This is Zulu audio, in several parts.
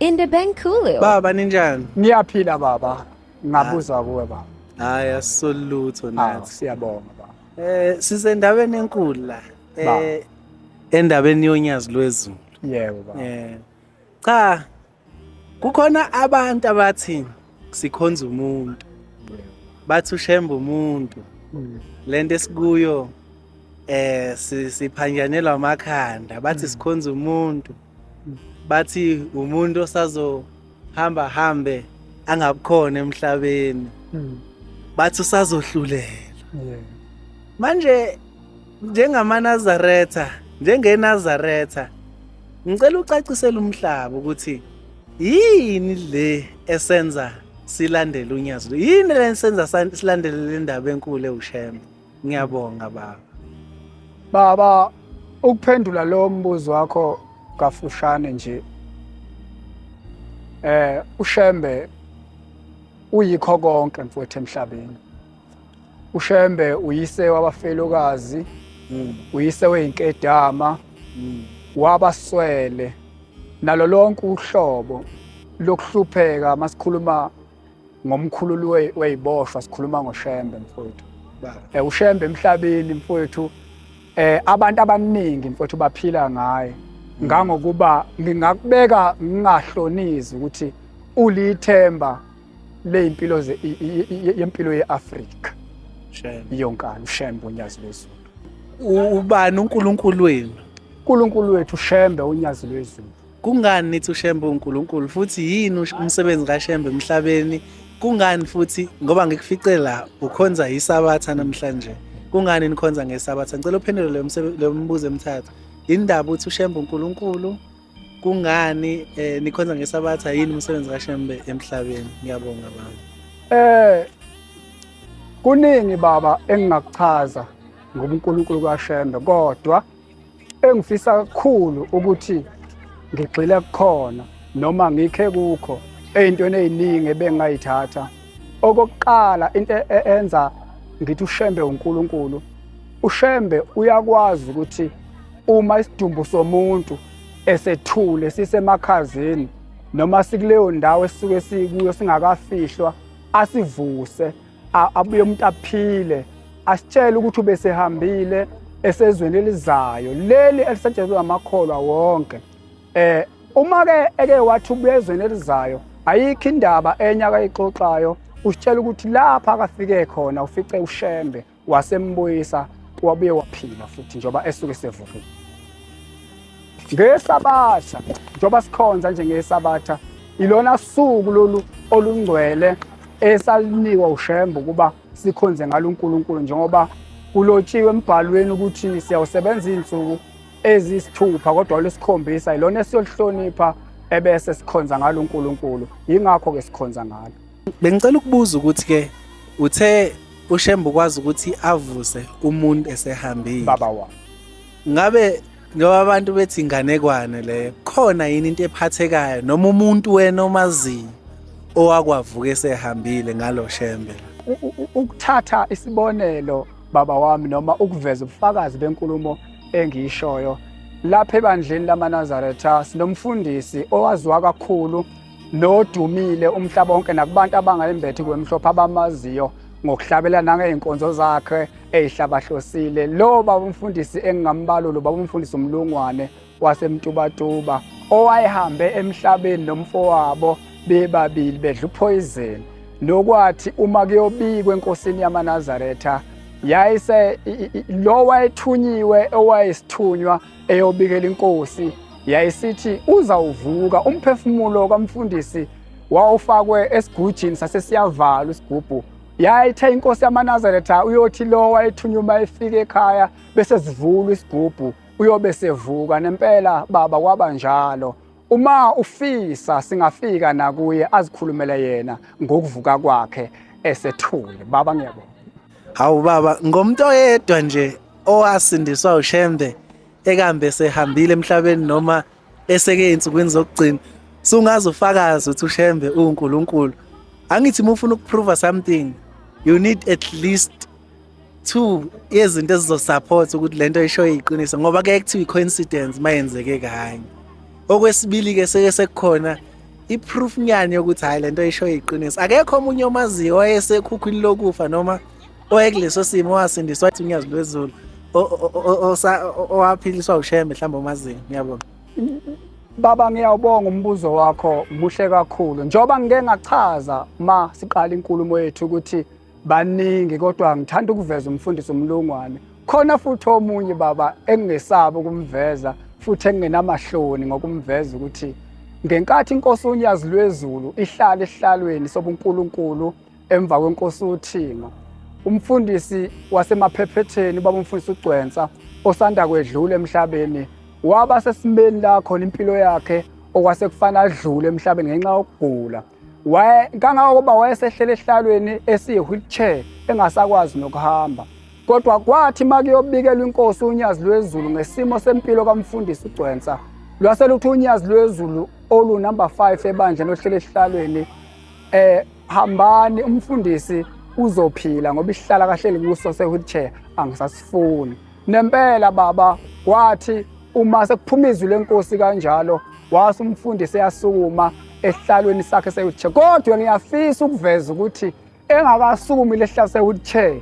In the bank Kulu. Baba ninjani? Ngiyaphila baba. Ngabuza kuwe baba. Hayi asolutho Hawu, nathi. siyabonga baba. Eh sisendaweni enkulu la. Ba. Eh endaweni yonyazi lwezulu. Yebo baba. Eh cha kukhona abantu abathi sikhonza umuntu. Bathi ushemba umuntu. Mm. Lento esikuyo eh si- siphanjanelwa amakhanda bathi sikhonza umuntu. bathi umuntu osazohamba hambe angabukhona emhlabeni hmm. bathi usazohlulela manje njengamanazaretha njengenazaretha ngicela ucacisele umhlaba ukuthi yini le esenza silandele unyazi yini le esenza silandele le ndaba enkulu ewushembe Ngiyabonga baba. Baba, ukuphendula lo mbuzo wakho kafushane nje. Eh uShembe uyikho konke mfowethu emhlabeni. UShembe uyise wabafelokazi, mm. uyise weinkedama, mm. wabaswele nalo lonke uhlobo lokuhlupheka masikhuluma ngomkhululi weyiboshwa sikhuluma ngoShembe mfowethu eh uShembe emhlabeni mfowethu eh abantu abaningi mfowethu baphila ngaye mm. ngangokuba ngingakubeka ngingahlonizi ukuthi ulithemba lezimpilo yempilo yeAfrika Shembe yonkana uShembe unyazi lwezulu ubani uNkulunkulu wenu uNkulunkulu wethu Shembe unyazi lwezulu Kungani nithi uShembe uNkulunkulu futhi yini umsebenzi kaShembe emhlabeni? Kungani futhi ngoba ngikufice la ukhonza isabatha namhlanje. Kungani nikhonza ngesabatha? Ngicela uphendule leyo msebe- leyo mibuzo emithathu. Indaba uthi uShembe uNkulunkulu kungani eh, nikhonza ngesabatha yini umsebenzi kaShembe emhlabeni? Ngiyabonga baba. Eh kuningi baba engingakuchaza ngobuNkulunkulu kaShembe kodwa engifisa kakhulu ukuthi ngigxile kukhona noma ngikhe kukho ey'ntweni ey'ningi ebengingayithatha okokuqala into e-, e-, enza ngithi ushembe uNkulunkulu ushembe uyakwazi ukuthi uma isidumbu somuntu esethule sisemakhazeni noma sikuleyo ndawo esisuke sikuyo singakafihlwa asivuse abuye umuntu aphile asitshele ukuthi ubesehambile esezweni elizayo leli elisetshenziswa amakholwa wonke eh uma ke eke wathi ubuya ezweni elizayo ayikho indaba enye akayixoxayo usitshela ukuthi lapha akafike khona ufice ushembe wasembuyisa wabuye waphila futhi njengoba esuke sevukile ngesabatha njengoba sikhonza nje ngesabatha ilona suku lolu olungcwele esalinikwa ushembe ukuba sikhonze ngalo uNkulunkulu njengoba kulotshiwe embhalweni ukuthi siyawusebenza izinsuku ezisithupha kodwa lesikhombisa ilona esiyolihlonipha ebese sikhonza ngalo uNkulunkulu yingakho ke sikhonza ngalo bengicela ukubuza ukuthi ke uthe ushembe ukwazi ukuthi avuse umuntu esehambile baba wami ngabe njengoba abantu bethi inganekwane leyo khona yini into ephathekayo noma umuntu wena omaziyo owakwavuka esehambile ngalo shembe ukuthatha isibonelo baba wami noma ukuveza ubufakazi benkulumo engiyishoyo lapha ebandleni lamanazaretha sinomfundisi owaziwa kakhulu nodumile umhlaba wonke nakubantu abangayimbethi kwemhlophe abamaziyo ngokuhlabela nangey'nkonzo zakhe ey'hlabahlosile lo baba umfundisi engingambalo lo baba umfundisi umlungwane wasemtubatuba owayehambe emhlabeni nomfowabo bebabili bedla uphoyizeni nokwathi uma kuyobikwa enkosini yamanazaretha yayise lo wayethunyiwe owayesithunywa eyobikela inkosi yayisithi uzawuvuka umphefumulo kamfundisi wawufakwe esigujini sasesiyavalwa isigubhu yayithe inkosi yamanazaretha uyothi lo wayethunywa uma efika ekhaya bese zivulwa isigubhu uyobe sevuka nempela baba kwaba njalo uma ufisa singafika nakuye azikhulumele yena ngokuvuka kwakhe esethule baba ngiyabonga Hawu baba ngomuntu oyedwa nje owasindiswa uShembe ekambe sehambile emhlabeni noma eseke ensukwini zokugcina sungaze ufakaze ukuthi uShembe uNkulunkulu angithi mufuna ukuprova something you need at least two yezinto ezizosupport ukuthi lento isho iqiniso ngoba ke kuthiwa icoincidence mayenzeke kanye okwesibili ke seke sekukhona i-proof nyani yokuthi hhayi le nto ishoyo iqiniso akekho omunye omaziyo owayesekhukhwini lokufa noma owayekuleso simo owasindiswa wathi unyazi lwezulu owaphiliswa ushembe mhlawumbe omaziyo ngiyabona baba ngiyawubonga umbuzo wakho muhle kakhulu njengoba ngike ngachaza ma siqala inkulumo yethu ukuthi baningi kodwa ngithanda ukuveza umfundisi umlungwane khona futhi omunye baba engingesabi ukumveza futhi engingenamahloni ngokumveza ukuthi ngenkathi inkosi unyazi lwezulu ihlala esihlalweni sobunkulunkulu emva kwenkosi uthingo umfundisi wasemaphephetheni baba umfundisi ugcwensa osanda kwedlula emhlabeni waba sesimeni la khona impilo yakhe okwase kufana adlule emhlabeni ngenxa yokugula waye kangangokuba wayesehlela esihlalweni esiyi-wheelchair engasakwazi nokuhamba kodwa kwathi uma kuyobikelwa inkosi unyazi lwezulu ngesimo sempilo kamfundisi ugcwensa lwase luthi unyazi lwezulu olunumber five ebandleni ohlele esihlalweni um eh, hambani umfundisi uzophila ngoba isihlala kahleli kuso se-wheelchair angisasifuni Nempela baba wathi uma sekuphuma izwi lenkosi kanjalo wase umfundisi eyasukuma esihlalweni sakhe sewheelchair kodwa ngiyafisa ukuveza ukuthi engakasukumi lesihlalo sewheelchair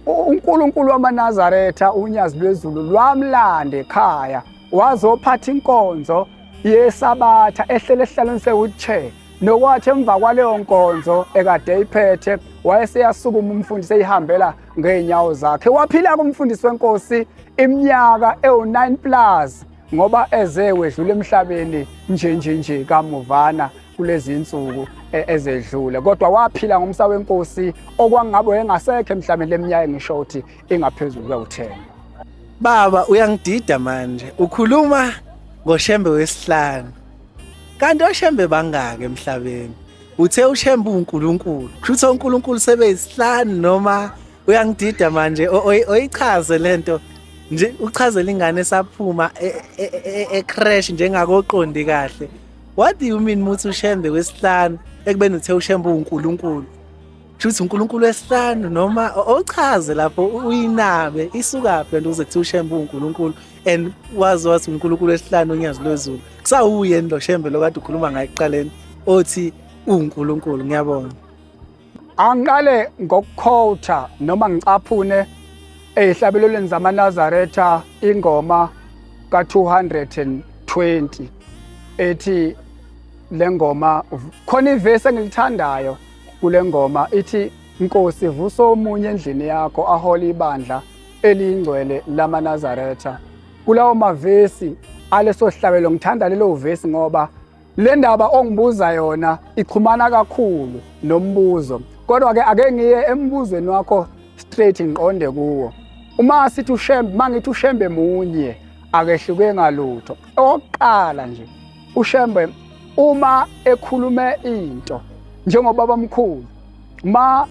uNkulunkulu wamaNazaretha unyazi lwezulu lwamlanda ekhaya wazophatha inkonzo yesabatha ehlele esihlalweni sewheelchair nokwathi emva kwaleyo nkonzo ekade eyiphethe wayeseyasukuma umfundisi eyihambela ngeenyawo zakhe waphila kumfundisi wenkosi iminyaka ewu-9 plus ngoba eze wedlula emhlabeni nje nje nje kamuvana kulezi insuku e, ezedlule kodwa waphila ngomsa wenkosi okwangabe wayengasekho emhlabeni leminyaka engisho ukuthi ingaphezulu kwe-10 baba uyangidida manje ukhuluma ngoshembe wesihlanu kanti oshembe bangaki emhlabeni Uthe uShembe uNkulunkulu. Kushuthi uNkulunkulu sebeyisihlanu noma uyangidida manje oyichaze lento nje uchazela ingane esaphuma e, e, e, ecrash njengakoqondi kahle. What do you mean muthi uShembe wesihlanu ekubeni uthe uShembe uNkulunkulu? Kushuthi uNkulunkulu wesihlanu noma ochaze lapho uyinabe isukaphi lento uze kuthiwa uShembe uNkulunkulu and wazi wathi uNkulunkulu esihlanu onyazi lwezulu kusawuye lo shembe lokade ukhuluma ngaye ekuqaleni othi uNkulunkulu ngiyabonga angiqale ngokukhotha noma ngicaphune ezihlabelelweni zamanazaretha ingoma ka-220 ethi le ngoma khona ivesi engilithandayo kule ngoma ithi nkosi vusa omunye endlini yakho ahole ibandla eliyingcwele lamaNazaretha. Kulawo mavesi aleso sihlabelo ngithanda lelo vesi ngoba le ndaba ongibuza yona ichumana kakhulu nombuzo kodwa-ke ake ngiye embuzweni wakho straight ngiqonde kuwo uma sithi ushembe uma ngithi ushembe munye akehluke ngalutho okokuqala nje ushembe uma ekhulume into njengobaba omkhulu ma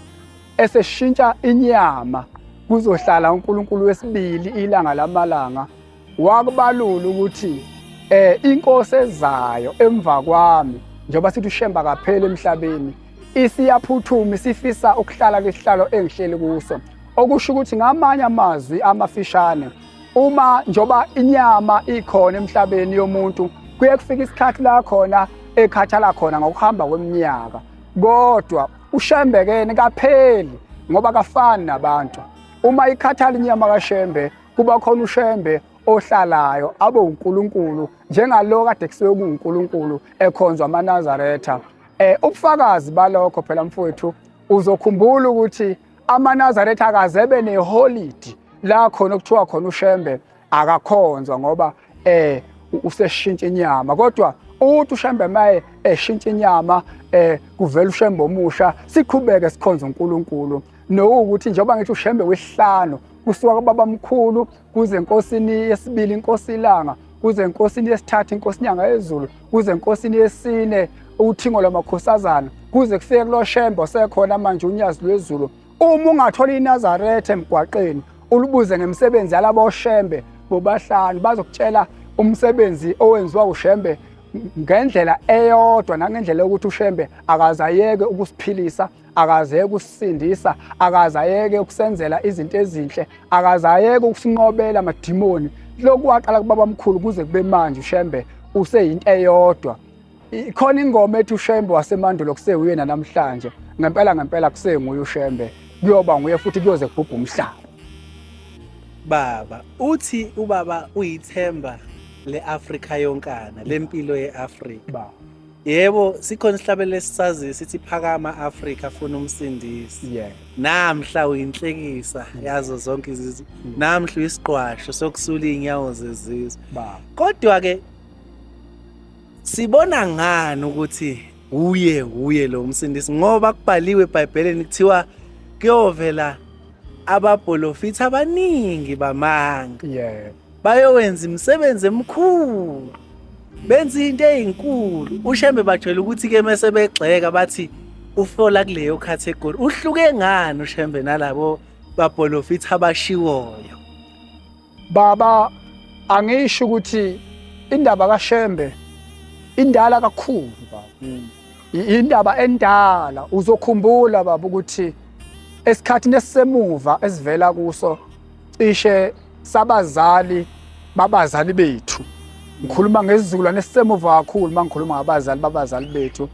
eseshintsha inyama kuzohlala uNkulunkulu wesibili ilanga lamalanga wakubalula ukuthi eh inkosi ezayo emva kwami njengoba sithi ushemba kaphela emhlabeni isiyaphuthuma isifisa ukuhlala kwesihlalo engihleli kuso okusho ukuthi ngamanye amazwi amafishane uma njoba inyama ikhona emhlabeni yomuntu kuye kufika isikhathi la khona ekhathala khona ngokuhamba kweminyaka kodwa ushembe kene kapheli ngoba kafani nabantu uma ikhathala inyama kashembe kuba khona ushembe ohlalayo abe uNkulunkulu njengalo kade kusuke kuNkulunkulu ekhonzwa amaNazaretha eh ubufakazi balokho phela mfowethu uzokhumbula ukuthi amaNazaretha akazebe neholiday la khona okuthiwa khona uShembe akakhonzwa ngoba eh useshintsha inyama kodwa uthi ushembe maye eshintsha inyama eh kuvela ushembe omusha siqhubeke sikhonza uNkulunkulu nokuthi njengoba ngithi ushembe wesihlanu kusuka kubaba mkhulu kuze enkosini yesibili inkosi ilanga kuze enkosini yesithathu inkosi inyanga yezulu kuze enkosini yesine uthingo lwamakhosazana kuze kufike kuloshembe osekhona manje unyazi lwezulu Uma ungathola iNazaretha emgwaqeni ulibuze ngemisebenzi yalabo oshembe bobahlanu bazokutshela umsebenzi owenziwa ushembe ngendlela eyodwa nangendlela yokuthi ushembe akazayeke ukusiphilisa akazayeke ukusindisa akazayeke ukusenzela izinto ezinhle akazayeke ukusinqobela amadimoni lokhu waqala kubaba mkhulu kuze kube manje ushembe useyinto eyodwa Khona ingoma ethi uShembe wasemandulo kusewuyena namhlanje. Ngempela ngempela kusenguye uShembe. Kuyoba nguye futhi kuyoze kubhubhe umhlaba. Baba, uthi ubaba uyithemba le-Afrika yonkana, lempilo ye-Afrika. Baba. Yebo, sikhona isihlabelelo esisaziyo sithi phakama Afrika funa umsindisi. Yeah. Namhla uyinhlekisa yazo zonke izizwe. Mm. Namhla uyisiqwasho sokusula inyawo zezizwe. Baba. Kodwa ke Sibona ngani ukuthi uye uye lo msindisi ngoba kubhaliwe eBhayibhelini kuthiwa kuyovela ababholofithi abaningi bamanga. Yeah. Bayowenza imisebenzi emikhulu. Benza into ezinkulu. UShembe bajwayele ukuthi ke mase begxeka bathi ufola kuleyo category. Uhluke ngani uShembe nalabo babholofithi abashiwoyo? Baba angisho ukuthi indaba kaShembe indala kakhulu baba. Mm. Indaba endala uzokhumbula baba ukuthi esikhathini esisemuva esivela kuso cishe sabazali babazali bethu ngikhuluma ngesizukulwane esisemuva kakhulu uma ngikhuluma ngabazali babazali bethu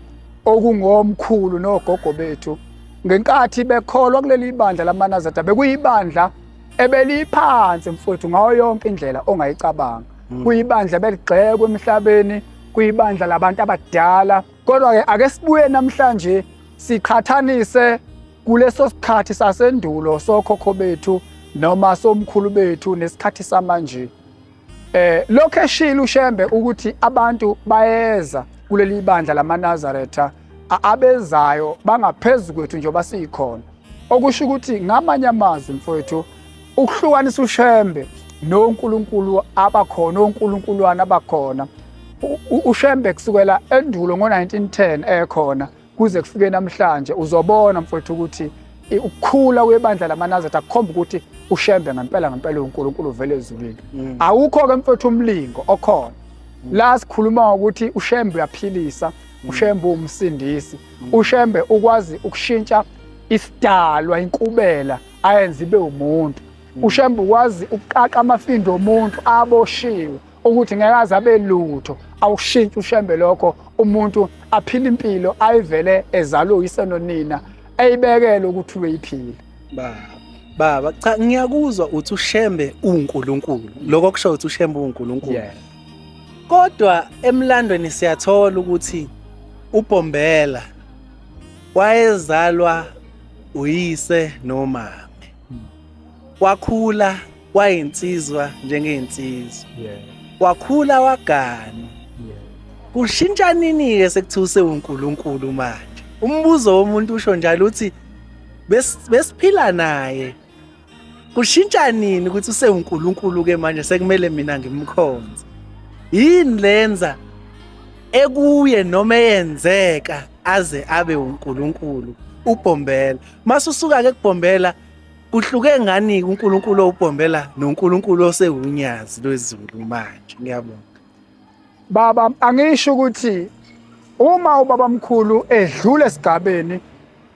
okungomkhulu nogogo bethu ngenkathi bekholwa kuleli bandla lamanazata bekuyibandla ebeliphansi mfowethu ngayo yonke indlela ongayicabanga mm. kuyibandla beligxekwe emhlabeni kuyibandla labantu abadala kodwa-ke ake sibuye namhlanje siqhathanise kuleso sikhathi sasendulo sokhokho bethu noma somkhulu bethu nesikhathi samanje eh lokho eshilo ushembe ukuthi abantu bayeza kuleli bandla lamanazaretha abezayo bangaphezulu kwethu njengoba siyikhona okusho ukuthi ngamanye amazwi mfowethu ukuhlukanisa ushembe nonkulunkulu abakhona onkulunkulwana abakhona ushembe kusukela endulo ngo-1910 ekhona kuze kufike namhlanje uzobona mfowethu ukuthi ukukhula kwebandla lamanazareth akukhomba ukuthi ushembe ngempela ngempela unkulunkulu vele ezulwini mm. awukho-ke mfowethu umlingo okhona mm. la sikhuluma ngokuthi ushembe uyaphilisa mm. ushembe uwumsindisi mm. uShembe ukwazi ukushintsha isidalwa inkubela ayenze ibe umuntu mm. uShembe ukwazi ukuqaqa amafindo omuntu aboshiwe ukuthi ngeke aze abe lutho awushintshe uShembe lokho umuntu aphile impilo ayivele ezalwe uyise nonina eyibekele ukuthi uyiphile baba baba cha ngiyakuzwa uthi uShembe uNkulunkulu lokho kusho ukuthi uShembe uNkulunkulu Kodwa emlandweni siyathola ukuthi uBhombela wayezalwa uyise nomama. Wakhula wayinsizwa njengensizwa. Yeah. Wakhula wagana. Yeah. Kushintsha nini ke sekuthuse uNkulunkulu manje? Umbuzo womuntu usho njalo uthi besiphila naye kushintsha nini ukuthi usewuNkulunkulu ke manje sekumele mina ngimkhonze yini lenza ekuye noma eyenzeka aze abe uNkulunkulu ubhombela mase usuka ke kubhombela kuhluke ngani uNkulunkulu owubhombela noNkulunkulu osewunyazi lwezulu manje ngiyabonga Baba angisho ukuthi uma ubabamkhulu edlule esigabeni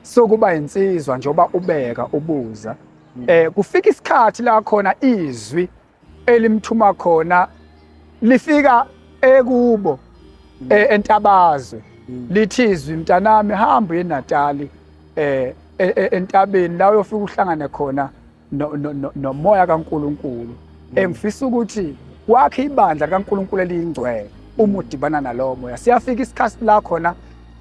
sokuba insizwa njengoba ubeka ubuza hmm. eh kufika isikhathi la khona izwi elimthuma khona lifika ekubo hmm. eh, entabazwe hmm. lithi izwi mntanami hamba eNatali eh e, e, entabeni la uyofika uhlangane khona nomoya kaNkulunkulu mm. engifisa ukuthi wakhe ibandla likaNkulunkulu eliyingcwele uma udibana nalowo moya siyafika isikhathi la khona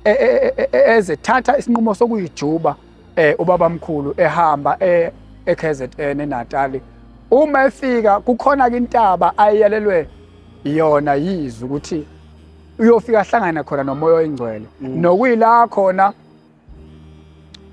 e, e, e, ezethatha isinqumo sokuyijuba um ubaba mkhulu ehamba e-kzn enatali uma efika kukhona-ke intaba ayeyalelwe yona yizwi ukuthi uyofika ahlangane khona nomoya oyingcwele mm. nokuyila khona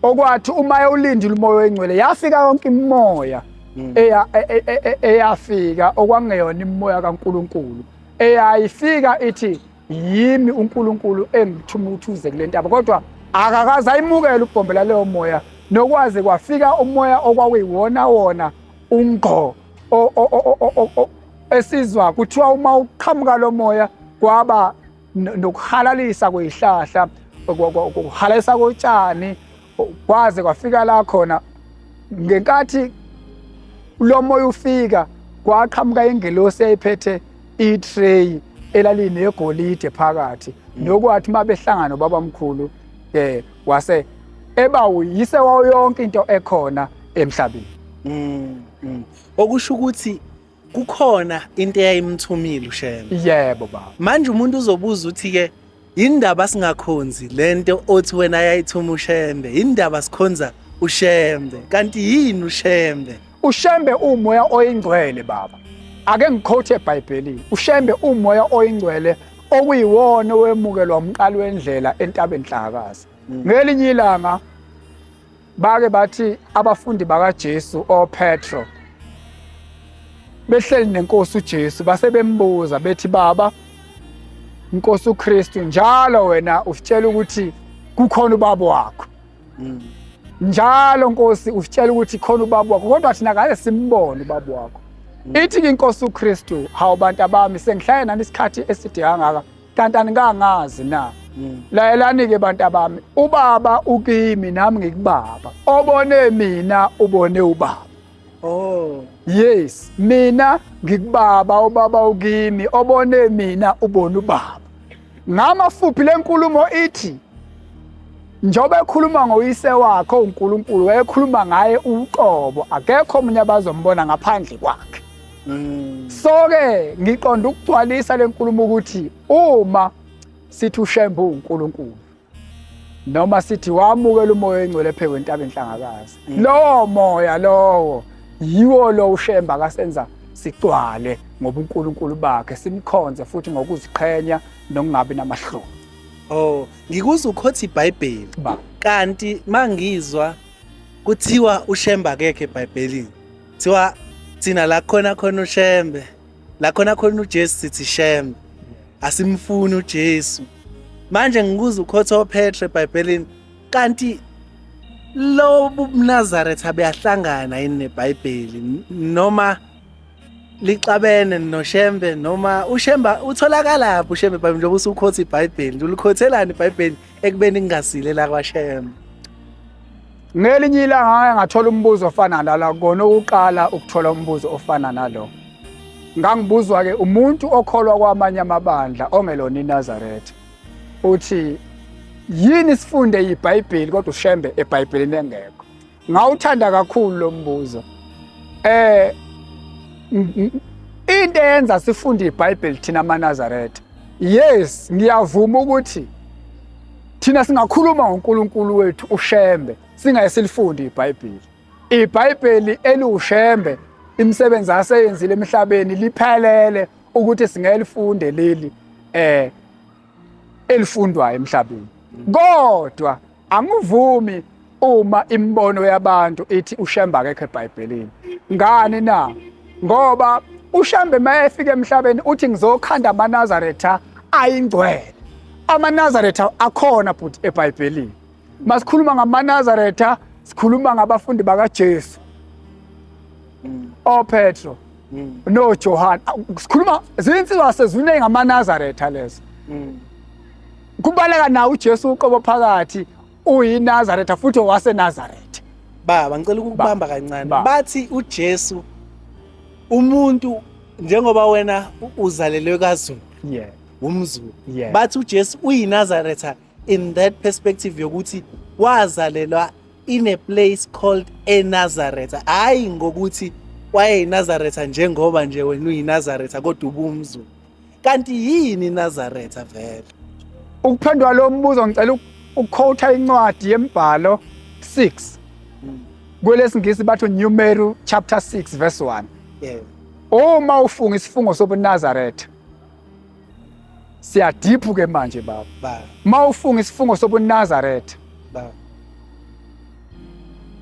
okwathi uma ewulindile umoya oyingcwele yafika yonke imimoya mm. e, e, e, eyafika okwangeyona imimoya kaNkuluNkulu eyayifika ithi yimi uNkuluNkulu engithuma ukuthi uze kule ntaba kodwa akakaze ayimukele ubhombela leyo moya nokwaze kwafika umoya okwakuyiwona wona ungqo esizwa kuthiwa uma uqhamuka lo moya kwaba nokuhalalisa kwezihlahla ukuhalalisa kotshani kwaze kwafika la khona ngenkathi lo moya ufika kwaqhamuka ingelosi eyayiphethe i-tray elalinegolide phakathi mm. nokwathi uma behlangana ubabamkhulu um eh, wase eba uyise wawo yonke into ekhona emhlabeni mm, mm. okusho ukuthi kukhona into eyayimthumile ushembe yebo baba manje umuntu uzobuza uthi ke indaba singakhonzi lento othi wena yayithuma ushembe indaba sikhonza ushembe kanti yini ushembe ushembe umoya oyingcwele baba ake ngikhothe ebhayibhelini ushembe umoya oyingcwele okuyiwona owemukelwa umqalo wendlela entabeni hlakazi mm. ngelinye ilanga Bake bathi abafundi bakaJesu oPetro behleli nenkosi uJesu base bembuza bethi baba inkosi uKristu njalo wena usitshela ukuthi kukhona ubaba wakho mm. njalo nkosi usitshela ukuthi khona ubaba wakho kodwa thina ngale simbone ubaba wakho mm. ithi inkosi uKristu hawu bantu abami sengihlale nani isikhathi eside kangaka kanti aningangazi na mm. layelani-ke bantu abami ubaba ukimi nami ngikubaba obone mina ubone ubaba oh yes mina ngikubaba ubaba ukimi obone mina ubone ubaba ngamafuphi le nkulumo ithi njengoba ekhuluma ngoyise wakhe uNkulunkulu wayekhuluma ngaye uqobo akekho omunye abazombona ngaphandle kwakhe mm. so-ke ngiqonda ukugcwalisa le nkulumo ukuthi uma sithi ushembe uwunkulunkulu noma sithi wamukela umoya oyingcwele phezu kwentaba enhlangakazi mm. lowo moya lowo yiwo lo ushemba akasenza sigcwale ngobunkulunkulu bakhe simkhonze futhi ngokuziqhenya nokungabi namahloni oh ngikuzwa ukhothi ibhayibheli kanti mangizwa kuthiwa ushemba kekhe ebhayibhelini kuthiwa thina la khona khona ushembe la khona khona ujesu sithi shembe asimfuni ujesu manje ngikuza ukhotha ophethe ebhayibhelini kanti lo bunazaretha abeyahlangana yini nebhayibheli noma lixabene noshembe noma ushemba utholakalaphi ushembe bhayibheli njengoba usukhotha ibhayibheli ulikhothelani ibhayibheli ekubeni kungasile la kwashembe Ngelinye ilanga ngake ngathola umbuzo ofana nala kona ukuqala ukuthola umbuzo ofana nalo. Ngangibuzwa ke umuntu okholwa kwamanye amabandla ongelona iNazaretha. Uthi yini sifunde iBhayibheli kodwa ushembe eBhayibhelini engekho. Ngawuthanda kakhulu lo mbuzo. Eh into eyenza sifunde iBhayibheli thina amaNazaretha. Yes, ngiyavuma ukuthi Thina singakhuluma ngoNkulunkulu wethu uShembe singaye silifunde iBhayibheli. IBhayibheli eliwuShembe imisebenzi aseyenzile emhlabeni liphelele ukuthi singelifunde leli eh elifundwayo emhlabeni. Kodwa angivumi Uma imibono yabantu ithi uShembe akekho eBhayibhelini, ngani na? Ngoba uShembe uma efika emhlabeni uthi ngizokhanda amaNazaretha ayingcwele. AmaNazaretha akhona bhuti eBhayibhelini. Masikhuluma ngamaNazaretha sikhuluma ngabafundi bakaJesu. Mm. OPetro mm. noJohane. Sikhuluma zinsizwa sezwini ngamaNazaretha lezo. Mm. Kubaleka nawo uJesu uqobo phakathi uyiNazaretha futhi owaseNazaretha baba ngicela ukukubamba kancane bathi uJesu umuntu njengoba wena uzalelwe kaZulu yeah umzulu yeah. bathi uJesu uyiNazaretha in that perspective yokuthi wazalelwa in a place called eNazaretha hayi ngokuthi wayeyiNazaretha njengoba nje wena uyiNazaretha kodwa ubumzulu kanti yini Nazareth vele ukuphendula lo mbuzo ngicela ukukhotha incwadi yembhalo 6 hmm. kwelesingisi bathu New Mary chapter 6 verse 1 yeah uma ufunga isifungo sobuNazaretha siyadiphu ke manje baba uma ufunga isifungo sobuNazaretha baba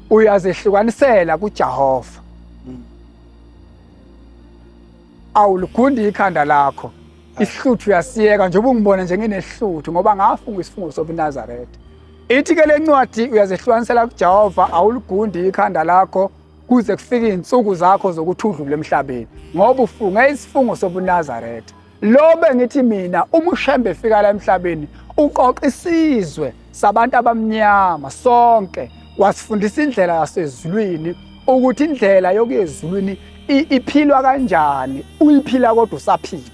uyazehlukanisela kuJehova awuligundi ikhanda lakho isihluthu uyasiyeka njengoba ungibona njengenesihluthu ngoba ngafunga isifungo sobunazaretha ithi-ke le ncwadi uyazehlukanisela kujehova awuligundi ikhanda lakho kuze kufike iy'nsuku zakho zokuthi udlule emhlabeni ngoba ufunge isifungo sobunazaretha lo bengithi mina umushembe efika la emhlabeni uqoqa isizwe sabantu abamnyama sonke wasifundisa indlela yasezulwini ukuthi indlela yokuya ezulwini iphilwa kanjani uyiphila kodwa usaphila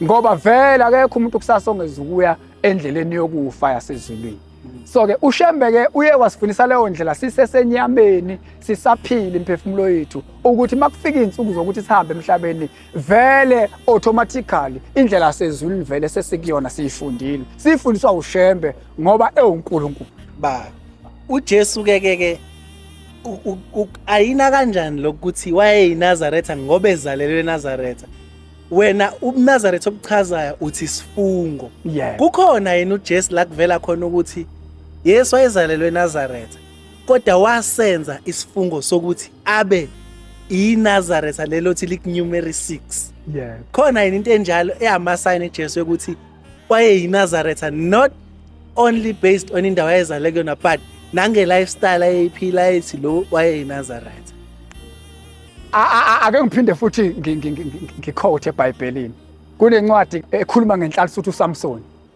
ngoba vele akekho umuntu kusasa ongeza ukuya endleleni yokufa yasezulwini so-ke ushembeke uye wasifundisa leyo ndlela sisesenyameni sisaphile imphefumulo yethu ukuthi uma kufika iy'nsuku zokuthi sihambe emhlabeni vele automatically indlela sezulwini vele sesikuyona siyifundile sifundiswa ushembe ngoba ewunkulunkulu ba uJesu ke ke ke ayina kanjani lokuthi wayeyiNazaretha ngoba ezalelwe eNazaretha wena ubuNazaretha obuchazayo uthi sifungo yeah. kukhona yena uJesu la kuvela khona ukuthi Yesu wayezalelwe eNazaretha kodwa wasenza isifungo sokuthi abe iNazaretha lelo thi likunumery 6 yeah khona yini into enjalo eyama sign eJesu ukuthi kwaye yiNazaretha not only based on indawo ayezale kuyona but nange lifestyle ayeyiphila ethi lo waye yiNazaretha ake ngiphinde futhi ngikhothe eBhayibhelini kunencwadi ekhuluma ngenhlalisuthi uSamson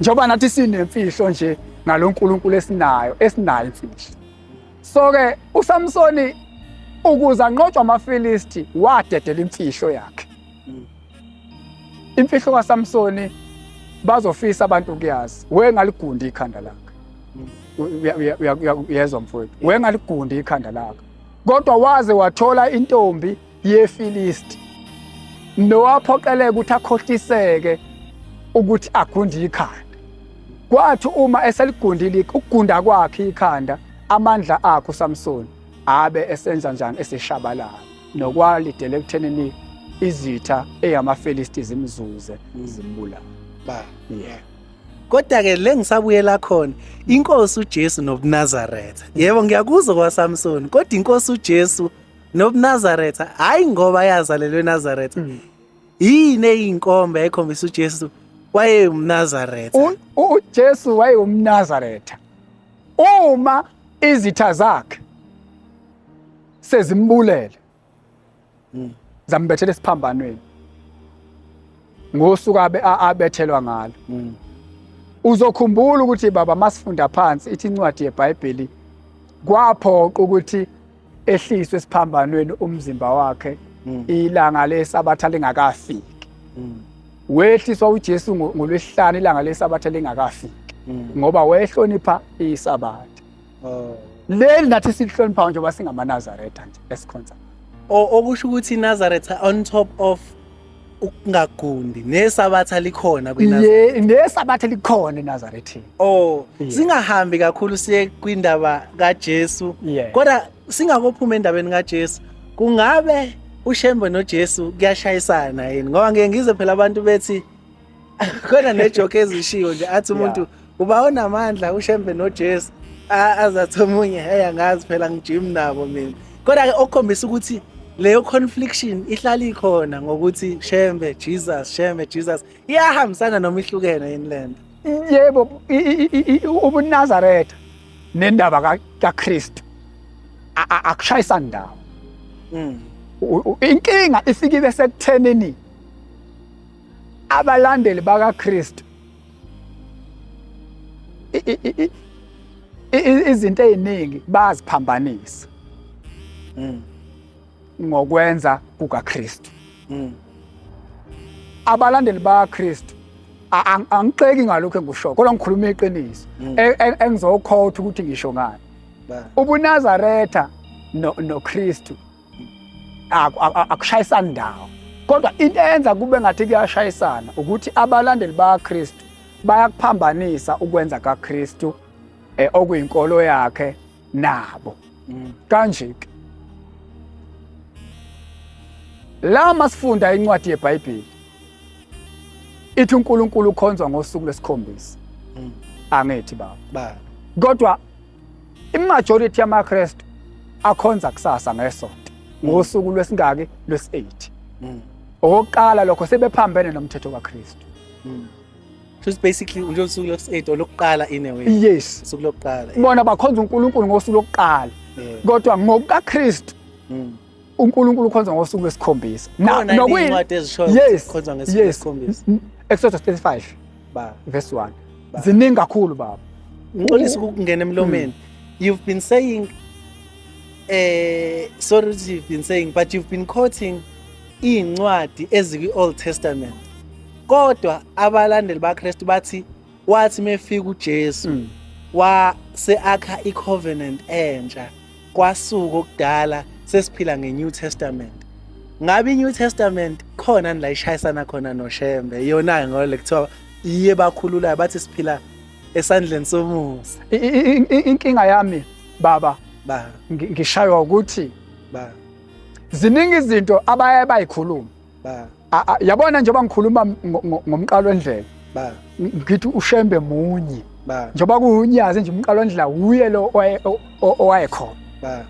njengoba nathi sinemfihlo nje ngalo nkulunkulu esinayo esinayo imfihlo so-ke usamsoni ukuze anqotshwa amafilisti wadedela imfihlo yakhe imfihlo kasamsoni bazofisa abantu ukuyazi wengaligundi ikhanda lakhe uyezwa mfowethu wengaligundi ikhanda lakhe kodwa waze wathola intombi yeFilisti nowaphoqeleka ukuthi akhohliseke ukuthi agunde ikhanda kwathi uma eseligundile ukugunda kwakhe ikhanda amandla akhe uSamson abe esenza njani eseshabalala nokwalidele ekuthenini izitha eyamaFilisti zimzuze mm. zimbulala ba yeah kodwa ke le ngisabuyela khona inkosi uJesu nobuNazaretha yebo ngiyakuzwa kwaSamson kodwa inkosi uJesu nobunazaretha hhayi ngoba yazalelwe enazaretha mm. yini eyinkomba yayikhombisa ujesu wayewumnazaretha ujesu wayewumnazaretha uma izitha zakhe sezimbulele mm. zambethela esiphambanweni ngosuku abe abethelwa ngalo mm. uzokhumbula ukuthi baba masifunda phansi ithi incwadi yeBhayibheli kwaphoqa ukuthi ehliswe esiphambanweni umzimba wakhe mm. ilanga lesabatha lingakafiki mm. wehliswa uJesu ngolwesihlanu ilanga lesabatha lingakafiki mm. ngoba wayehlonipha isabatha oh. leli nathi silihloniphayo njengoba singamanazaretha nje esikhonza okusho ukuthi inazaretha on top of ukungagundi nesabatha likhona kwiNazaretha nesabatha likhona eNazarethini oh singahambi kakhulu siye kwindaba kaJesu kodwa singakophuma endabeni kaJesu kungabe uShembe noJesu kuyashayisana yini ngoba ngeke ngize phela abantu bethi khona nejoke ezishiwo nje athi umuntu uba onamandla ushembe nojesu A- aze athi omunye hey angazi phela ngijim nabo mina kodwa-ke okukhombisa ukuthi leyo confliction ihlala ikhona ngokuthi shembe jesus shembe jesus iyahambisana noma ihlukene yini le nto yebo i- i- i- i- ubunazaretha nendaba ka- kakristu a- a- akushayisa ndawo Mm. U- u- inkinga ifike ibe sekuthenini abalandeli bakaKristu izinto eziningi baziphambanisa mm. ngokwenza kukaKristu mm. abalandeli bakaKristu angixeki ngalokho engikushoyo kodwa ngikhuluma iqiniso mm. e, e, engizokhotha ukuthi ngisho ngani ubunazaretha noKristu no akushayisani ndawo kodwa into eyenza kube ngathi kuyashayisana ukuthi abalandeli bakaKristu bayakuphambanisa ukwenza kaKristu eh, okuyinkolo yakhe nabo mm. kanje ke la masifunda incwadi yeBhayibheli ithi uNkulunkulu ukhonzwa ngosuku lesikhombisa mm. angithi baba kodwa Imajority yamaKristu akhonza kusasa ngesonto ngosuku lwesingaki lwesi-8 Mm. okokuqala lokho sebephambene nomthetho kaKristu Mm. So it's basically nje usuku lokusi-8 olokuqala in a way. yes Usuku lokuqala. bona bakhonza uNkulunkulu ngosuku lokuqala Yeah. kodwa ngokukaKristu Mm. uNkulunkulu ukhonza ngosuku lwesikhombisa nokuyincwadi ezishoyo yes, khonza ngosuku lwesikhombisa Exodus 35 ba verse 1 ziningi kakhulu baba ngixolisa ukungena emlomeni hmm. you've been saying eh sorry you've been saying but you've been quoting izincwadi ezikwi Old Testament kodwa abalandeli baKristu bathi wathi mefika uJesu mm. wa seakha icovenant entsha kwasuka okudala sesiphila ngeNew Testament ngabe iNew Testament khona la ishayisana khona noShembe yona ngole kuthiwa iye bakhululayo bathi siphila esandleni somusa inkinga yami baba ba ngishaywa ukuthi ba ziningi izinto abaye bayikhuluma ba A- a- yabona njengoba ngikhuluma ngo- ngo- ngomqalo wendlela ba ngithi ushembe munye ba njengoba kuwunyazi nje umqalo wendlela wuye lo owaye- o- o- owayekhona ba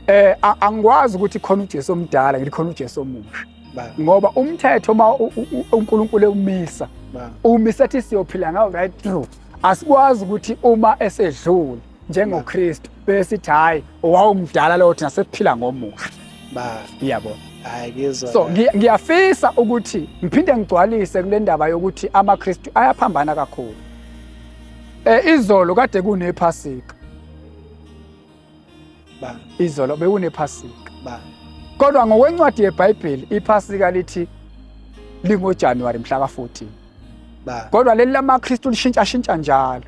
eh a- angikwazi ukuthi khona uJesu omdala ngithi khona uJesu omusha ba ngoba umthetho uma u- u- u- uNkulunkulu ewumisa ba umisa ethi siyophila ngawo right through asikwazi ukuthi uma esedlule njengoKristu besithi hayi wawumdala lowo thina sesiphila ngomusa ba iyabona hayi ngizwa so ngiyafisa ukuthi ngiphinde ngigcwalise kule ndaba yokuthi amaKristu ayaphambana kakhulu eh izolo kade kunephasika ba izolo bekunephasika ba kodwa ngokwencwadi yeBhayibheli iphasika lithi lingoJanuary mhla ka-14 ba kodwa leli lamaKristu lishintsha shintsha njalo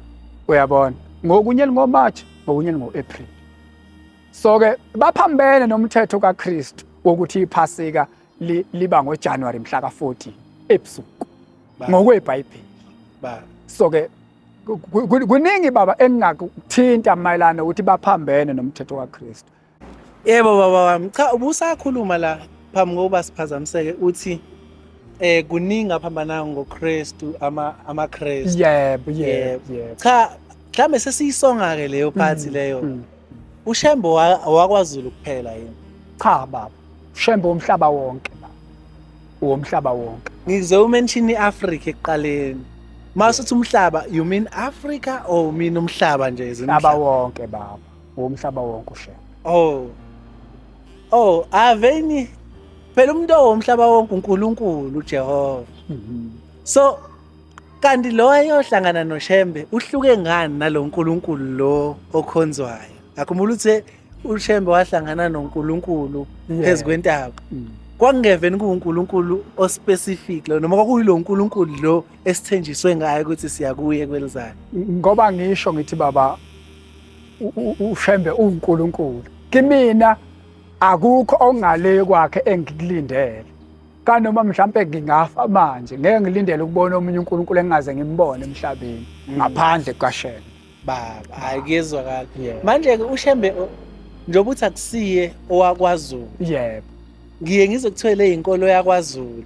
uyabona ngokunye lingoMarch ngokunye lingo-April so ke baphambene nomthetho kaKristu wokuthi iphasika liba ngoJanuary mhla ka-14 ebusuku ngokwebhayibheli so ke kuningi baba engingakuthinta mayelana ukuthi baphambene nomthetho kaKristu yebo baba wami cha ubusakhuluma la phambi kokuba siphazamiseke uthi eh kuningi aphambana ngoKristu ama amaKristu yebo yebo cha mhlambe sesiyisonga ke leyo phathi mm, leyo mm. uShembe owa- owakwazulu kuphela yini Cha baba, uShembe womhlaba wonke baba. Womhlaba wonke. ngize umention i-afrika ekuqaleni uma suthi umhlaba you mean africa or you mean umhlaba nje as in Umhlaba umhlaba? wonke baba. Womhlaba wonke uShembe. oh oh aveni phela umuntu owomhlaba wonke unkulunkulu ujehova Mhm. so Kanti lo ayohlangana noShembe uhluke ngani nalo Nkulunkulu lo okhonzwayo? Akhumbula uthe uShembe wahlangana noNkulunkulu phezu kwentaba. Mm. Kwakungeveni kuwuNkulunkulu ospecific lo noma kwakuyilo Nkulunkulu lo esithenjiswe ngayo ukuthi siya kuye kwelizayo. Ngoba ngisho ngithi baba uShembe uNkulunkulu. Kimina akukho ongale kwakhe engikulindele. kanoma mhlampe ngingafa manje ngeke ngilindele ukubona omunye uNkulunkulu engaze ngimbone emhlabeni mm. ngaphandle kukaShembe baba hayi kuyezwakala manje ke uShembe njengoba uthi akusiye owakwaZulu yebo ngiye ngize kuthwele inkolo yakwaZulu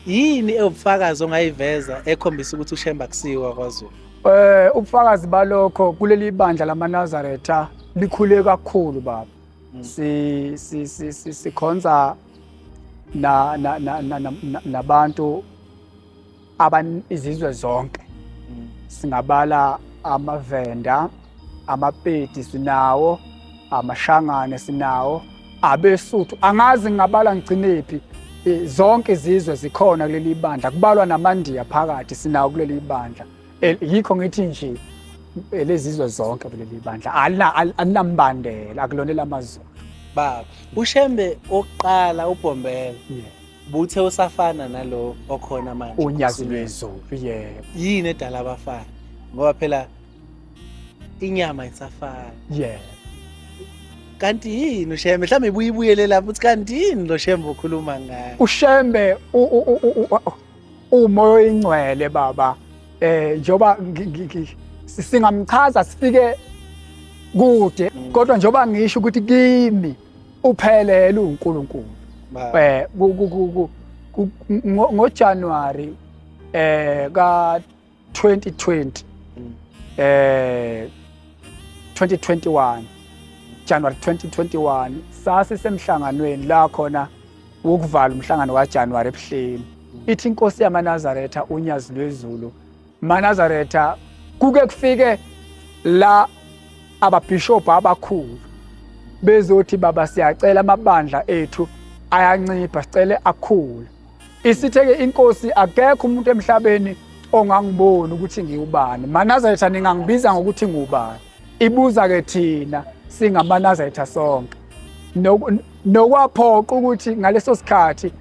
yini ewubufakazi ongayiveza ekhombisa ukuthi uShembe akusiye wakwaZulu eh ubufakazi balokho kuleli bandla lamaNazaretha likhule kakhulu baba si si si si sikhonza na na na na- na- na- nabantu aban izizwe zonke singabala amavenda amapedi sinawo amashangane sinawo abesuthu angazi ngingabala ngigcinephi Eh, zonke izizwe zikhona kuleli bandla kubalwa namandiya phakathi sinawo kuleli bandla Eh, yikho ngithi nje eh, lezizwe zonke kuleli bandla alina- al- alinambandela akulona elamazulu baba ushembe oqala ubhombela Yeah. buthe usafana nalo okhona manje unyazi lwezulu yebo yini edala abafana ngoba phela inyama isafana yebo kanti yini ushembe mhlawumbe ibuye ibuyele lapho ukuthi kanti yini lo shembe okhuluma ngayo ushembe u- u- u- u- u- umoya oyingcwele baba eh njoba singamchaza sifike kude kodwa njoba ngisho ukuthi kimi uphelele uNkulunkulu eh ngoJanuary eh ka 2020 mm. eh 2021 January 2021 sase semhlanganweni la khona wokuvala umhlangano wa January ebuhleni mm. ithi inkosi yamanazaretha unyazi lwezulu manazaretha kuke kufike la ababishop abakhulu bezothi baba siyacela amabandla ethu ayancipha sicele akhule Isitheke inkosi akekho umuntu emhlabeni ongangiboni ukuthi ngiwubani. Manazaretha ningangibiza ngokuthi ngubani. Ibuza ke thina singamanazaretha sonke. Nokwaphoqa ukuthi ngaleso sikhathi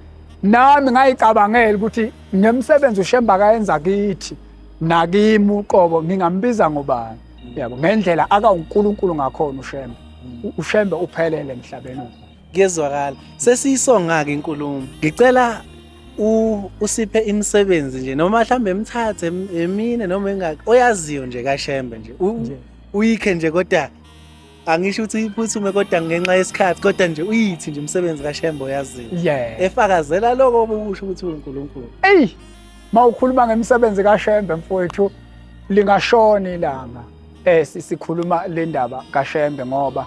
nami ngayicabangela ukuthi ngemsebenzi uShemba kayenza kithi nakimi uqobo ngingambiza ngobani. Yabo ngendlela akawuNkulunkulu ngakhona uShemba. uShembe uphelele emhlabeni Kuyezwakala. Sesiyisonga ke inkulumo. Ngicela u usiphe imisebenzi nje noma mhlambe emthathe em- emine noma engaki oyaziyo nje kaShembe nje. U- Nje. Uyikhe nje kodwa angisho ukuthi iphuthume kodwa ngenxa yesikhathi kodwa nje uyithi nje umsebenzi kaShembe oyaziyo. Yeah. Efakazela lokho obukusho ukuthi uNkulunkulu. Ey, mawukhuluma ngemisebenzi kaShembe mfowethu lingashona ilanga. Eh si- sikhuluma le ndaba kaShembe ngoba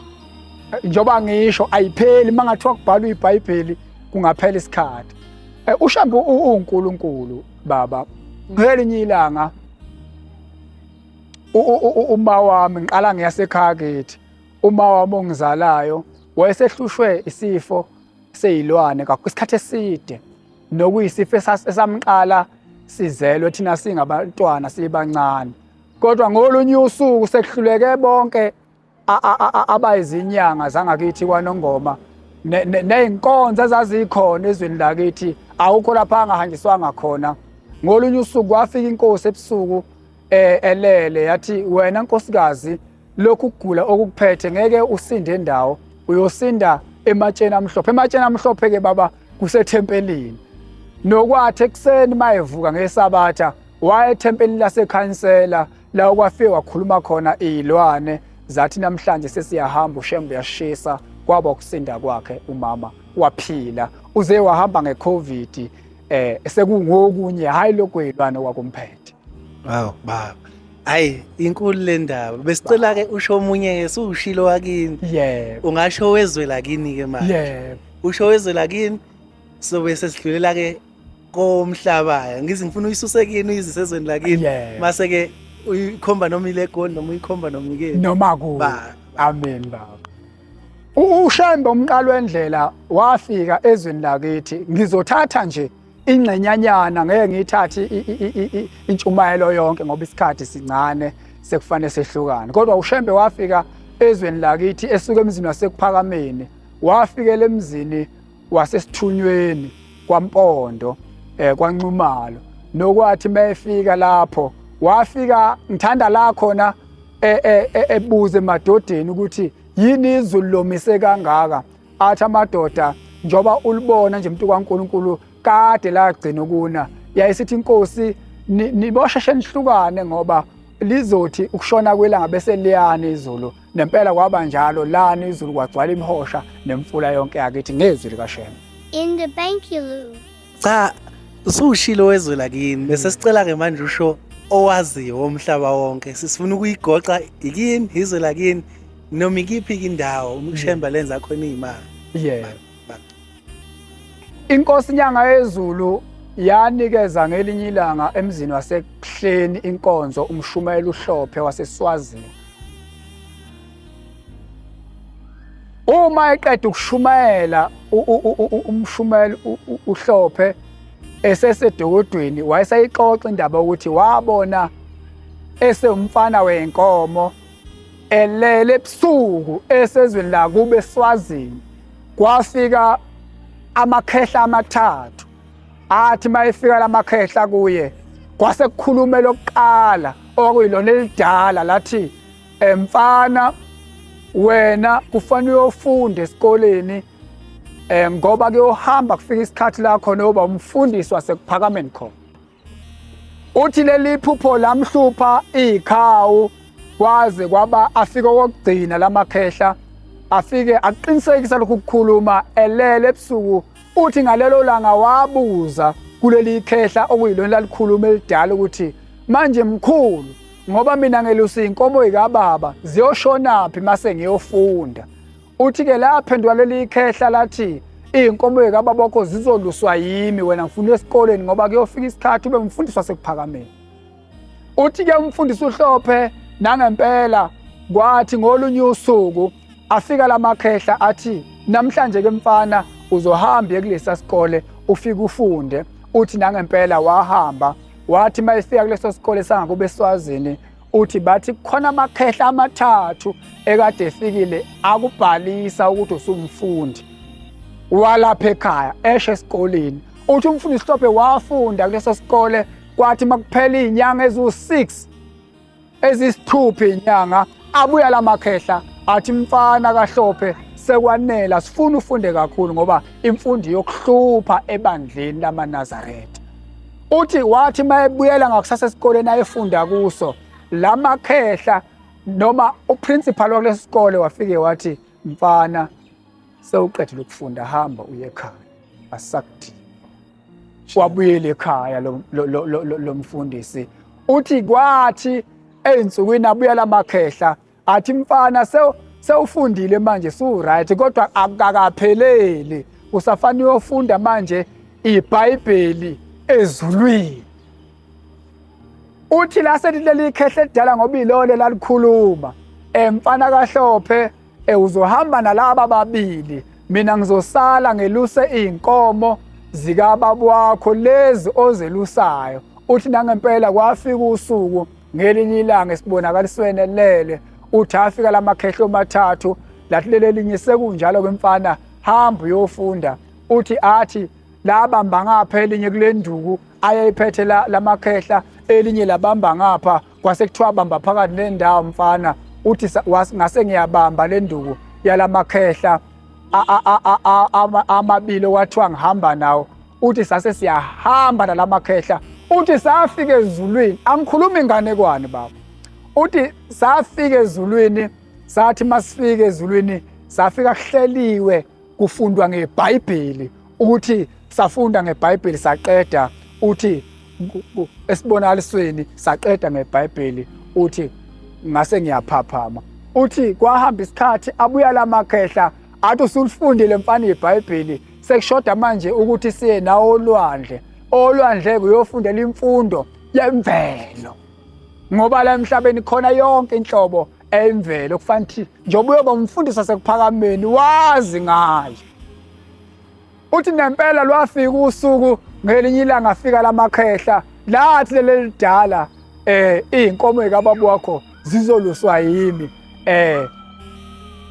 Eh, njengoba ngisho ayipheli uma ngathiwa kubhalwa ibhayibheli kungaphela isikhathi eh, ushambe uwunkulunkulu baba ngelinye ilanga uma wami ngiqala ngiyasekhaya kithi uma wami ongizalayo wayesehlushwe isifo seyilwane kakhulu isikhathi eside nokuyisifo esamqala sizelwe thina singabantwana sibancane kodwa ngolunye usuku sekuhluleke bonke abayizinyanga zangakithi kwanongoma ney'nkonzo ezazikhona ezweni lakithi awukho lapha angahanjiswanga khona ngolunye usuku kwafika inkosi ebusuku eh, elele yathi wena nkosikazi lokhu kugula okukuphethe ngeke usinde endawo uyosinda ematsheni amhlophe ematsheni amhlophe ke baba kusethempelini nokwathi ekuseni mayevuka ngesabatha waye ethempelini lasekhansela la okwafike wakhuluma khona iy'lwane zathi namhlanje sesiyahamba ushembe uyashisa kwaba ukusinda kwakhe umama waphila uze wahamba ngecovid eh sekungokunye hayi lokwelwana kwakumphethe aw baba hayi inkulu le ndaba besicela ke usho omunye ke sushilo wakini yebo ungasho wezwe lakini ke manje yebo usho wezwe lakini sobe sesidlulela ke komhlabaya ngize ngifuna uyisuse kini uyizise ezweni lakini Yeah. mase ke uyikhomba noma ile egoli noma uyikhomba noma ikini noma ku Ba- amen baba U- ushembe umqalo wendlela wafika ezweni lakithi ngizothatha nje ingxenyanyana ngeke ngiyithathe i- i- i- i- i- intshumayelo yonke ngoba isikhathi sincane sekufanele sehlukane kodwa ushembe wafika ezweni lakithi esuka emzini wasekuphakameni wafikela emzini wasesithunyweni kwampondo eh kwanxumalo nokwathi mayefika lapho wafika ngithanda la khona e, e, e, ebuze emadodeni ukuthi yini izulu lomise kangaka athi amadoda njoba ulibona nje umuntu kaNkuluNkulu kade lagcina ukuna yayisithi inkosi nibosheshe nihlukane ngoba lizothi ukushona kwelanga bese liyana izulu nempela kwaba njalo lani izulu kwagcwala imihosha nemfula yonke yakithi ngezwi likashembe in the bank you lose cha usushilo wezwe lakini bese sicela ke manje usho owaziyo womhlaba wonke sisifuna ukuyigoqa yikini izwe lakini noma ikiphi indawo umshemba lenza khona imali yeah Inkosi Nyanga Yezulu yanikeza ngelinye ilanga emzini waseKuhleni inkonzo umshumayeli uHlophe waseSwazini. Uma eqeda ukushumayela umshumayeli uHlophe esesedokodweni wayesayixoxa indaba ukuthi wabona esewumfana wenkomo elele ebusuku esezweni lakube eSwazini kwafika amakhehla amathathu athi mayefika lamakhehla kuye kwase kukhuluma lokuqala okuyilona elidala lathi emfana wena kufanele uyofunde esikoleni eh ngoba kuyohamba kufika isikhathi la khona uba umfundisi wasekuphakameni khona Uthi leli phupho lamhlupha ikhawu kwaze kwaba afike okugcina lamakhehla afike aqinisekisa lokhu kukhuluma elele ebusuku uthi ngalelo langa wabuza kuleli khehla okuyilona lalikhuluma elidala ukuthi manje mkhulu ngoba mina ngelusa inkomo ikababa ziyoshonaphi mase ngiyofunda Uthi-ke laphendula leli khehla lathi iy'nkomo yekababa wakho zizoluswa yimi wena ngifuna esikoleni ngoba kuyofika isikhathi ube umfundisi wasekuphakameni uthi-ke umfundisi uhlophe nangempela kwathi ngolunye usuku afika la makhehla athi namhlanje-ke mfana uzohamba ekulesa sikole ufike ufunde uthi nangempela wahamba wathi uma efika kuleso sikole sangakube eswazini uthi bathi kukhona amakhehla amathathu ekade efikile akubhalisa ukuthi usumfundi walapha ekhaya eshe esikoleni uthi umfundi sihlophe wafunda kuleso sikole kwathi makuphela izinyanga eziwu-6 ezisithupha izinyanga abuya la makhehla athi mfana kahlophe sekwanela sifuna ufunde kakhulu ngoba imfundo yokuhlupha ebandleni lamanazaretha Uthi wathi uma ebuyela ngakusasa esikoleni ayefunda kuso la makhehla noma uprincipal wakulesi sikole wafike wathi mfana sewuqedile ukufunda hamba uye ekhaya asakudingi wabuyela ekhaya lo mfundisi uthi kwathi ey'nsukwini abuya la makhehla athi mfana sew sewufundile manje siwuright kodwa akakapheleli usafanele uyofunda manje iBhayibheli ezulwini uthi la selileli ikhehle edala ngoba ilole lalikhuluma emfana kahlophe ewuzohamba nalaba babili mina ngizosala ngeluse izinkomo zikababa wakho lezi ozelusayo uthi nangempela kwafika usuku Ngelinye ilanga esibonakalisweni elele uthi afika lamakhehlo mathathu lathi lelelinye sekunjalo kwemfana hamba uyofunda uthi athi labamba ngapha elinye kule nduku ayeyiphethe lamakhehla elinye labamba ngapha kwase kuthiwa bamba phakathi nendawo mfana uthi ngase ngiyabamba le nduku yalamakhehla amabili okwathiwa ngihamba nawo uthi sase siyahamba nalamakhehla uthi safika ezulwini angikhuluma inganekwane baba uthi safika ezulwini sathi masifika ezulwini safika kuhleliwe kufundwa ngebhayibheli uthi safunda ngebhayibheli saqeda uthi esibonalisweni saqeda ngebhayibheli uthi ngase ngiyaphaphama uthi kwahamba isikhathi abuya lamakhehla athi usulifundile mfana ibhayibheli sekushoda manje ukuthi siye nawo olwandle olwandle kuyofundela imfundo yemvelo ngoba la emhlabeni khona yonke inhlobo emvelo kufanele ukuthi njengoba uyoba umfundisi wasekuphakameni wazi ngayo uthi nempela lwafika usuku ngelinye ilanga afika lamakhehla lathi lelidala eh izinkomo ekababa wakho zizoluswa yimi eh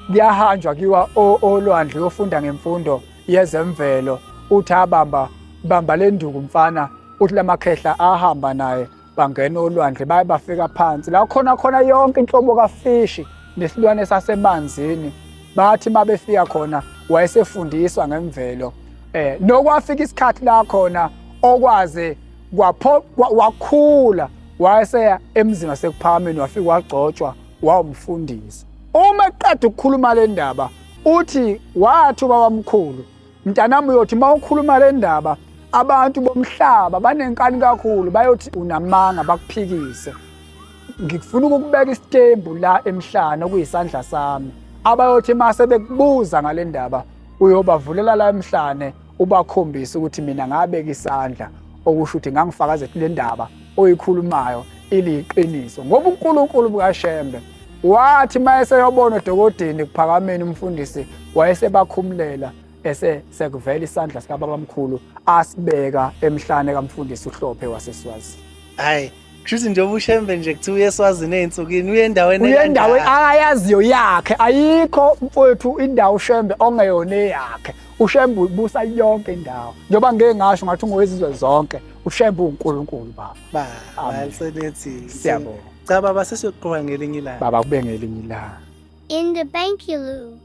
kuyahanjwa kiwa olwandle yofunda ngemfundo yezemvelo uthi abamba bamba lenduku mfana uthi lamakhehla ahamba naye bangena olwandle baye bafika phansi la khona khona yonke inhlobo kafishi nesilwane sasemanzini bathi mabefika khona wayesefundiswa ngemvelo eh nokwafika isikhathi la khona okwaze kwaphoqa wakhula wayeseya emzini wasekuphakameni wafika wagcotshwa wawumfundisi uma eqeda ukukhuluma le ndaba uthi wathi ubaba mkhulu mntanami uyothi uma ukhuluma le ndaba abantu bomhlaba banenkani kakhulu bayothi unamanga bakuphikise ngifuna ukubeka isitembu la emhlana okuyisandla sami abayothi mase bekubuza ngale ndaba uyobavulela la emhlane ubakhombise ukuthi mina ngabeka isandla okusho ukuthi ngangifakaza ukuthi le ndaba oyikhulumayo iliyiqiniso ngoba uNkulunkulu bukaShembe wathi mayeseyobona odokodini kuphakameni umfundisi wayesebakhumulela ese sekuvela isandla sikababamkhulu asibeka emhlane kamfundisi uhlophe waseswazi hayi Kushuthi nje ubushembe nje kuthiwa uyeswazini ezinsukwini uye endaweni uye endaweni akayaziyo yakhe ayikho mfowethu indawo ushembe ongeyona eyakhe ushembe ubusa yonke indawo njengoba ngeke ngasho ngathi ungowezizwe zonke ushembe uNkulunkulu baba ba alisenethi siyabonga cha baba sesiyoqhubeka ngelinye ilanga baba kube ngelinye ilanga in the bank you lose